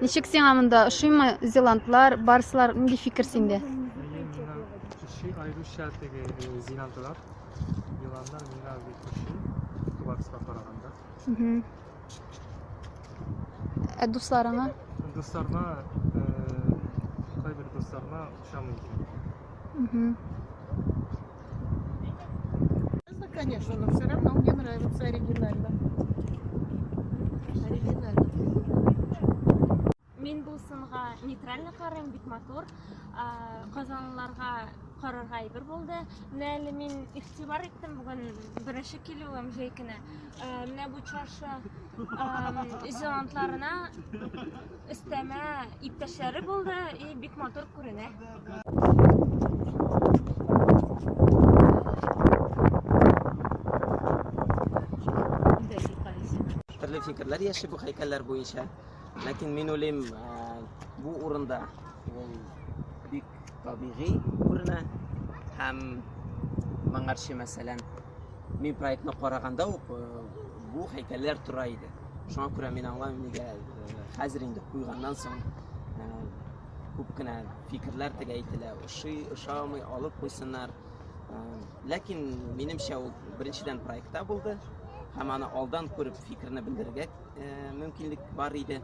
Ничек сиңа монда? Ошыймы зеландлар, барслар? Нинди фикер синдә? Кеше айрыша теге зеландлар, зеландлар миңа бик ошый. Барска караганда. Ә дусларыңа? Дусларга, кайбер дусларга ошамый. Угу. Конечно, но все равно мне нравится оригинально. Оригинально. Мин бу сынга нейтрально карыйм, бик матур. Казанлыларга карарга әйбер булды. Менә әле мин игътибар иттем бүген беренче килүем җәй көне. Э, менә бу чаршы зеландларына өстәмә иптәшләре булды и бик матур күренә. Төрле фикерләр яши бу һәйкәлләр буенча. Ләкин мин уйлыйм, бу урында ул бик табигый күренә һәм моңарчы мәсәлән мин проектны караганда ук э, бу һәйкәлләр тора иде шуңа күрә мин аңлаймын нигә э, хәзер инде куйганнан соң э, күп кенә фикерләр теге әйтелә. Ошый, ошамый, алып куйсыннар. Ә, Ләкин минемчә ул беренчедән проектта булды һәм аны алдан күреп фикерне белдерергә ә, мөмкинлек бар иде.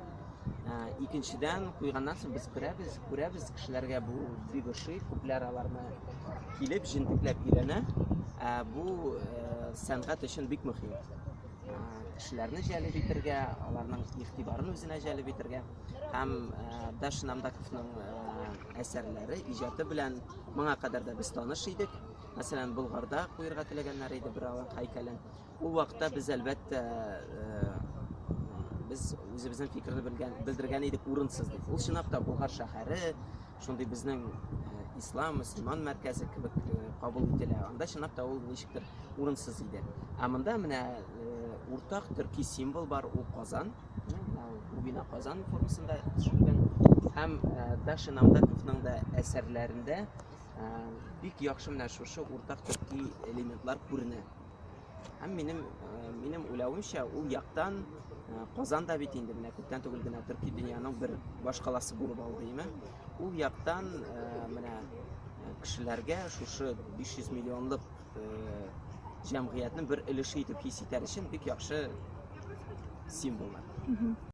Ә, Икенчедән куйганнан соң без күрәбез, күрәбез кешеләргә бу бик ошый, күпләр аларны килеп җентекләп өйрәнә. Ә, Бу ә, сәнгать өчен бик мөһим. Ә, Кешеләрне җәлеп итергә, аларның игътибарын үзенә җәлеп итергә. һәм Даш Намдаковның әсәрләре, иҗаты белән моңа кадәр дә без таныш идек. Мәсәлән, Болгарда куерга теләгәннәр иде бер алан һәйкәлен. Ул вакытта без әлбәттә без үзебезнең фикерне белгән, белдергән идек урынсыз дип. Ул чынлап та Болгар шәһәре, шундый безнең ислам, мөселман мәркәзе кебек кабул ителә. Анда чынлап та ул ничектер урынсыз иде. Ә монда менә уртак төрки символ бар, ул Казан. Убина Казан формасында төшерелгән һәм Даша Намдаковның да әсәрләрендә бик яхшы менә шушы уртак төрки элементлар күренә. Һәм минем минем уйлавымча ул яктан Казан да бит инде менә күптән түгел генә төрки дөньяның бер башкаласы булып алды, яме. Ул яктан менә кешеләргә шушы 500 миллионлык җәмгыятьнең бер өлеше итеп хис итәр өчен бик яхшы символлар.